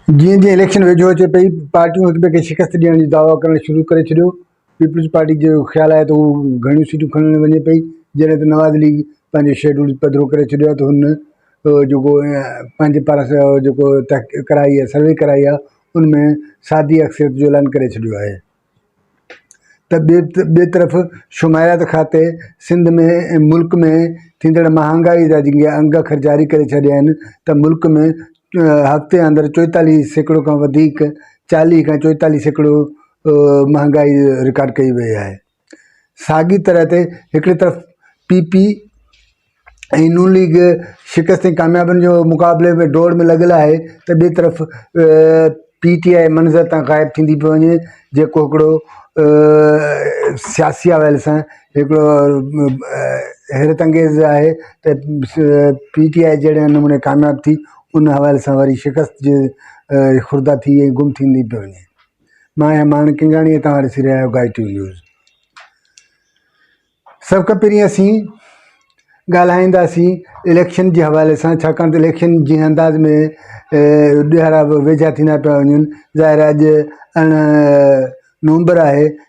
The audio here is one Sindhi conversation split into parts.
جيئن جيئن اليڪشن ويجهو اچي پئي پارٽيون هڪٻئي کي شڪست ڏيڻ جو دعويٰ ڪرڻ شروع ڪري ڇڏيو پيپلز پارٽي جو خيال آهي ته هو گهڻيون سيٽون کڻڻ وڃي پئي جڏهن ته نواز ليگ پنهنجو شيڊول پڌرو ڪري ڇڏيو آهي ته هن جيڪو پنهنجي پاران جيڪو تحقيق ڪرائي آهي سروي ڪرائي آهي ان ۾ سادي اڪثريت جو اعلان ڪري ڇڏيو آهي ته ٻي ٻي طرف شماريات کاتي سنڌ ۾ ملڪ ۾ ٿيندڙ مهانگائي جا جيڪي انگ اکر جاري ڪري ڇڏيا آهن ته ملڪ ۾ هفتي اندر چوئيتاليهه سيڪڙو کان وڌيڪ چاليهه کان چوئيتاليهه سيڪڙو مهانگائي رڪارڊ ڪئي وئي آهي ساڳي طرح تي هڪڙي طرف پي پي ۽ نون ليگ شڪست ۽ ڪاميابين جو مقابلي ۾ ڊوڙ ۾ لڳل آهي ته ٻي طرف پي ٽي آئي منظر تان غائب ٿيندي پئي وڃي جيڪو هڪڙو سياسي حوالي سان هڪڙو حيرت انگيز آهي ته پي ٽي آئي جهڙي نموني ڪامياب ٿي ان حوالي سان وري شڪست جي خوردار ٿي ۽ گم ٿيندي پئي وڃي مان آهيان ماڻڪ ڪنگاڻي ۽ توهان ڏسي رهيا آهيو گائي ٽيون نيوز سڀ کان پهرين اسين ڳالهائينداسين اليڪشن جي حوالي سان ڇاڪاڻ ته اليڪشن جنهن انداز ۾ ڏهاڙا ويجها ٿيندا پيا وڃن ظاهر اڄ ارڙهن نومبر آهي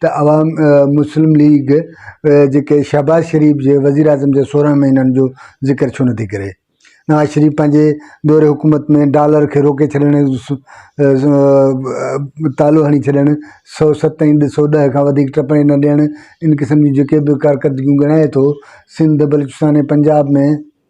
ته عوام مسلم ليگ جي ڪي شهباز شريف جي وزيراعظم جي سورهن مهينن جو ذڪر ڇو نٿي ڪري؟ نواز شريف پنهنجي دور حڪومت ۾ ڊالر کي روڪي ڇڏڻ ۽ تالو هڻي ڇڏڻ، سؤ ست ۽ ڏھ سؤ ڏهه کان وڌيڪ ٽپڻي نه ڏيڻ، ان قسم جون جيڪي به ڪارڪردگيون ڳڻائي ٿو، سنڌ، بلوچستان ۽ پنجاب ۾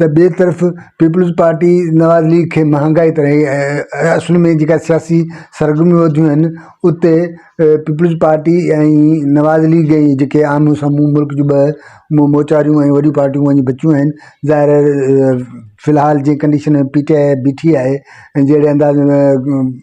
ته ٻئي طرف پيپلز پارٽي نواز ليگ کي مهانگائي تي اصل ۾ جيڪا سياسي سرگرميون وڌيون آهن اتي پيپلز پارٽي ۽ نواز ليگ جي جيڪي آمهون سامهون ملڪ جون ٻه موچاريون ۽ وڏيون پارٽيون وڃي بچيون آهن ظاهر آهي فلحال جي ڪنڊيشن ۾ پي ٽي آء بيٺي آهي ۽ جهڙي انداز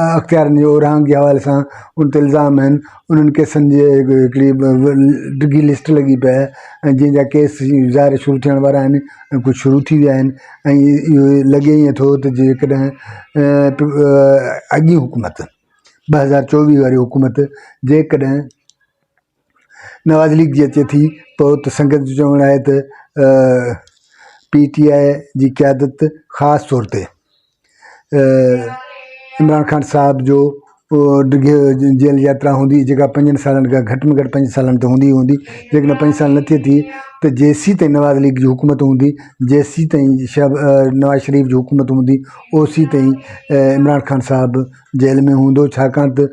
اختيارين جي اورانهن جي حوالي سان ان تي الزام آهن انهن ڪيسن جي هڪڙي ڊگهي لسٽ لڳي پئي آهي ۽ جن جا ڪيس ظاهر شروع ٿيڻ وارا آهن ۽ ڪجهه شروع ٿي ويا آهن ۽ اهو لڳي ائين ٿو ته جيڪڏهن اڳي حڪومت ٻه هزار چوويهه واري حڪومت جيڪڏهن نواز ليگ جي اچي ٿي پوء ته سنگت جو چوڻ آهي ته پي ٽي آء جي قيادت خاص طور تي عمران خان صاحب جو ڊگهي جيل ياترا هوندي جيڪا پنجن سالن کان گهٽ ۾ گهٽ پنج سالن تي هوندي هوندي جيڪڏهن پنج سال نه ٿئي ٿي ته جيسين تائين نواز ليگ جي حڪومت هوندي جيسين تائين شهب نواز شريف جي حڪومت هوندي اوسين تائين عمران خان صاحب جيل ۾ هوندو ڇاڪاڻ ته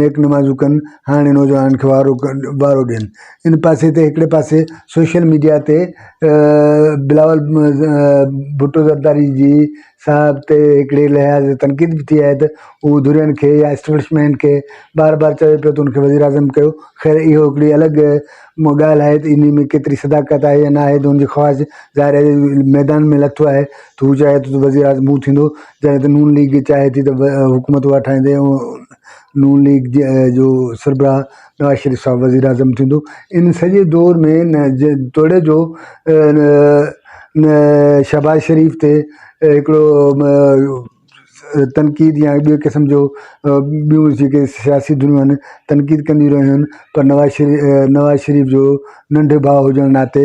نيڪ نمازون ڪن هاڻي نوجوانن کي وارو وارو ڏين ان پاسي تي هڪڙي پاسي سوشل ميڊيا تي بلاول ڀٽو زرداري جي صاحب تي هڪڙي لحاظ تنقيد به ٿي آهي ته هو ڌرين کي يا اسٽبلشمينٽ کي بار بار چوي پيو ته انکي وزير اعظم ڪيو خير اهو هڪڙي الڳ ڳالهه آهي ته ان ۾ ڪيتري صداقت آهي يا ناهي ته انجي خواهش ظاهر آهي ميدان ۾ لٿو آهي ته هو چاهي ٿو ته وزير اعظم هو ٿيندو جڏهن ته نون ليگ چاهي ٿي ته حڪومت اها ٺاهيندي ۽ نون ليگ جو سربراهه نواز شريف صاحب وزيراعظم ٿيندو. ان سڄي دور ۾ نه توڙي جو شهباز شريف تي هڪڙو تنقيد يا ٻي قسم جو ٻيون جيڪي سياسي ڌريون آهن تنقيد ڪنديون رهيون آهن پر نواز شريف نواز شريف جو ننڍي ڀاء هجڻ ناتي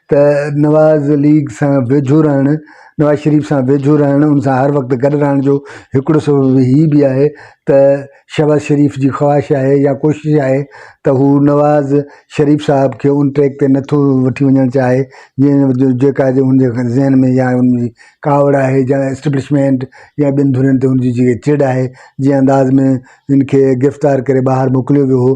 ته نواز ليگ سان ويجهو رهڻ، نواز شريف سان ويجهو رهڻ، ان سان هر وقت گڏ رهڻ جو هڪڙو سبب هي به آهي ته شهباز شريف جي خواهش آهي يا ڪوشش آهي ته هو نواز شريف صاحب کي ان ٽريڪ تي نه ٿو وٺي وڃڻ چاهي جنهن جيڪا ان جي ذهن ۾ يا ان جي ڪاوڙ آهي جا اسٽيبلشمينٽ يا ٻين ڌرين تي ان جي جيڪا چڙ آهي جنهن انداز ۾ ان کي گرفتار ڪري ٻاهر موڪليو ويو هو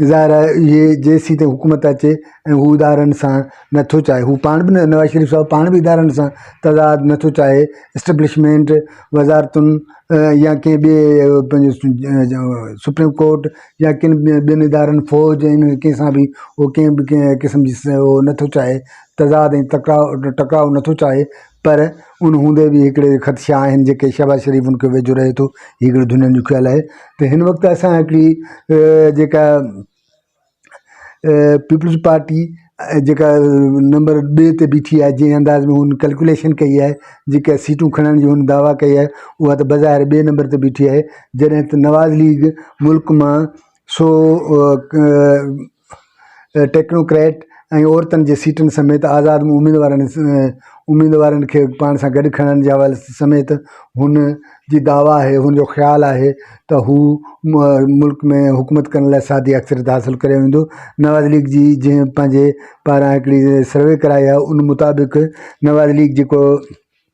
ظاهر آهي اهي جيسين تائين حڪومت اچي ۽ هو ادارن سان نٿو چاهي هو پاڻ بنه نواز شريف صاحب پاڻ بي ادارن سان تضاد نٿو چاهي اسٽبلشمينٽ وزارتن يا ڪنهن ٻي پنهنجو سپريم ڪورٽ يا ڪن ٻين ادارن فوج ۽ انهن ڪنهن سان بي هو ڪنهن بي ڪنهن قسم جي هو نٿو چاهي تضاد ۽ تڪرار ٽڪراء نٿو چاهي پر ان هوندي به هڪڙي خدشا آهن جيڪي شهباز شريف ان کي ويجهو رهي ٿو هي هڪڙو دنيا جو خيال آهي ته هن وقت اسان هڪڙي جيڪا پيپلز پارٽي جيڪا نمبر ٻي تي بيٺي آهي جنهن انداز ۾ هن ڪلڪوليشن ڪئي آهي جيڪا سيٽون کڻڻ جي هن دعويٰ ڪئي آهي اها ته بظاهر ٻئي نمبر تي بيٺي آهي جڏهن ته نواز ليگ ملڪ مان سو ٽيڪنوڪريٽ ۽ عورتن جي سيٽن سميت آزاد اميدوارن اميدوارن کي پاڻ سان گڏ کڻڻ جي حوالي سميت هن جي دعويٰ آهي هن جو خيال آهي ته هو ملڪ ۾ حڪومت ڪرڻ لاء سادي اڪثريت حاصل ڪري ويندو نواز ليگ جي جنهن پنهنجي پاران هڪڙي سروي ڪرائي آهي ان مطابق نواز ليگ جيڪو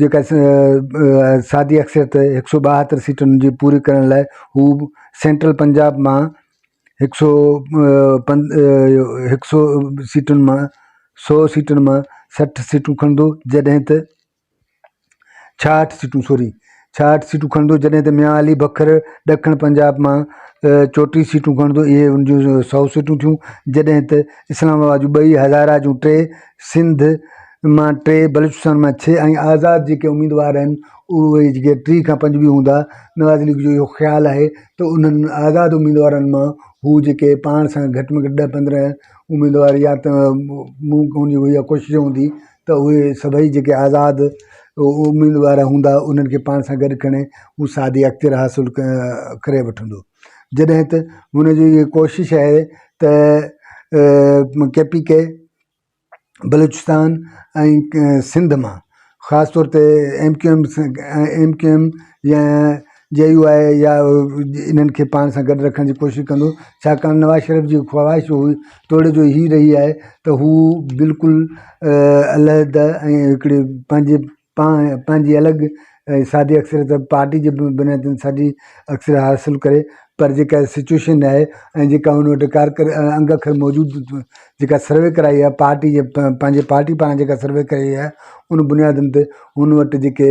جيڪا سادي اڪثريت هڪ سؤ ٻاهتر سيٽن جي پوري ڪرڻ لاء هو سينٽرل پنجاب مان هڪ سؤ پن هڪ سؤ سيٽن مان سؤ سيٽن مان سٺ سيٽون کڻندو جڏهن ته ڇاهٺ سيٽون سوري ڇاهٺ سيٽون کڻندو جڏهن ته ميان علي بکر ڏکڻ پنجاب مان چوٽيهه سيٽون کڻندو اهي ان جون سؤ سيٽون ٿيون جڏهن ته اسلام آباد جون ٻئي هزاره جون ٽي سنڌ مان ٽي بلوچستان مان ڇهه ۽ آزاد جيڪي اميدوار آهن اهي جيڪي ٽي کان پنج به هوندا نواز ليگ جو اهو خيال آهي ته انهن آزاد اميدوارن مان هو جيڪي پاڻ سان گهٽ ۾ گهٽ ڏهه پندرهن اميدوار يا ته مون ڪون جي هو اها ڪوشش هوندي ته اهي سڀئي جيڪي آزاد اميدوار هوندا انهن کي پاڻ سان گڏ کڻي هو سعادي اختيار حاصل ڪري وٺندو جڏهن ته هن جي اهي ڪوشش آهي ته K P K Balochistan ۽ Sindh مان خاص طور تي M Q M M Q M يا جي يو آء يا انهن کي پاڻ سان گڏ رکڻ جي ڪوشش ڪندو ڇاڪاڻ نواز شريف جي خواهش هئي توڙي جو هي رهي آهي ته هو بلڪل علحده ۽ هڪڙي پنهنجي پاڻ پنهنجي الڳ سادي اڪثريت پارٽي جي بنيادن ساڳي اڪثر حاصل ڪري پر جيڪا سچويشن آهي ۽ جيڪا هن وٽ ڪار ڪر انگ اکر موجود جيڪا سروي ڪرائي آهي پارٽي جي پنهنجي پارٽي پاڻ جيڪا سروي ڪئي آهي ان بنيادن تي هن وٽ جيڪي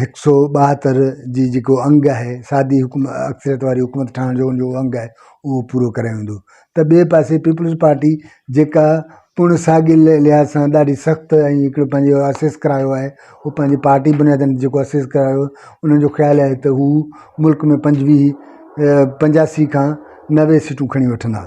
هڪ سؤ ٻاهتر جي جيڪو انگ آهي سادي حڪومت اڪثريت واري حڪومت ٺاهڻ جو ان جو انگ آهي اهو پورو ڪري ويندو ته ٻئي پاسي پيپلز پارٽي جيڪا پڻ ساڳي لحاظ سان ڏاڍي سخت ۽ هڪڙو پنهنجو اسيس ڪرايو آهي هو پنهنجي پارٽي بنيادن تي جيڪو اسيس ڪرايو انهن جو خيال آهي ته هو ملڪ ۾ پنجويهه پنجاسي کان نوي سيٽون کڻي وٺندا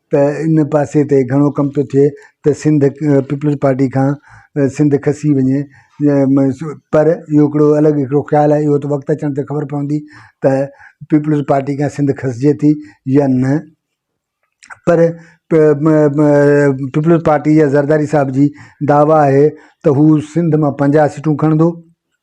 ته ان پاسي تي گهڻو ڪم ٿو ٿئي ته سنڌ پيپلز پارٽي کان سنڌ کسي وڃي پر اهو هڪڙو الڳ هڪڙو خيال آهي اهو ته وقت اچڻ تي خبر پوندي ته پيپلز پارٽي کان سنڌ کسجي ٿي يا نه پر پيپلز پارٽي يا زرداري صاحب جي دعويٰ آهي ته هو سنڌ مان پنجاهه سيٽون کڻندو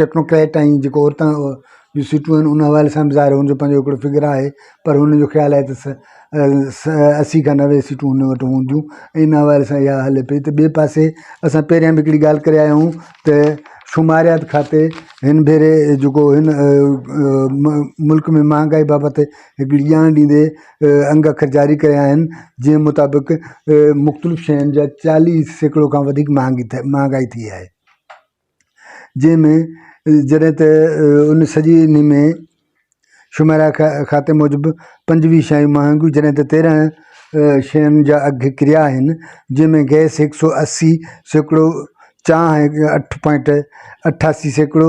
ٽيڪنوڪريٽ ۽ جيڪو عورتن جون سيٽون آهن ان حوالي سان ظاهر هن جو پنهنجو هڪڙو فگر آهي پر هن جو خيال آهي ته اسي کان نوي سيٽون هن وٽ هونديون ۽ ان حوالي سان اها هلي پئي ته ٻئي پاسي اسان پهريان به هڪڙي ڳالهه ڪري آيا آهيون ته شماريات کاتي هن ڀيري جيڪو هن ملڪ ۾ مهانگائي بابت هڪڙي ڄاڻ ڏيندي انگ اکر جاري ڪيا آهن جنهن مطابق مختلف شين جا چاليهه سيڪڙو کان وڌيڪ مهانگي مهانگائي ٿي آهي جنهن ۾ جڏهن ته ان سڄي انهي ۾ شميرا کاتي موجب پنجويهه شايون مهانگيون جڏهن ته تيرهن شين جا اگهه ڪريا آهن جنهن ۾ گئس هڪ سؤ اسي سيڪڙو چانهه اٺ پوائنٽ اٺاسي سيڪڙو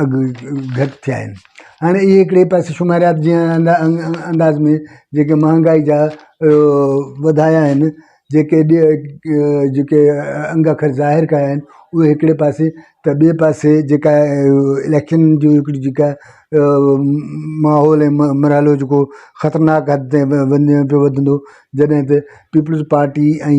اگهه گهٽ ٿيا آهن هاڻي اهي هڪڙي پاسي شماريات جي انداز ۾ جيڪي مهانگائي جا وڌايا آهن جيڪي جيڪي انگ اکر ظاهر ڪيا آهن اهي هڪڙي پاسي ته ٻي پاسي جيڪا اليڪشن جي هڪڙي جيڪا ماحول مرحلو جيڪو خطرناڪ حد تائين وڃي پيو وڌندو جڏهن ته پيپلز پارٽي ۽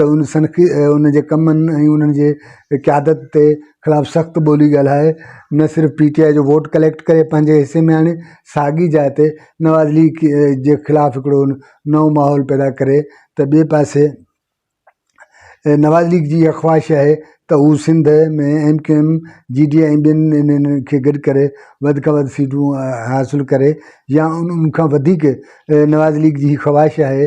ته ان سن کي ان جي ڪمن ۽ انهن جي قيادت تي خلاف سخت ٻولي ڳالهائي نه صرف پي ٽي آء جو ووٽ ڪليڪٽ ڪري پنهنجي حصي ۾ آڻي ساڳي جاء تي نواز ليگ جي خلاف هڪڙو نئون ماحول پيدا ڪري ته ٻئي پاسي نواز ليگ جي اها خواهش آهي ته هو Sindh ۾ M Q M G D ۽ ٻين انهن کي گڏ ڪري وڌ کان وڌ سيٽون حاصل ڪري يا ان کان وڌيڪ نواز ليگ جي خواهش آهي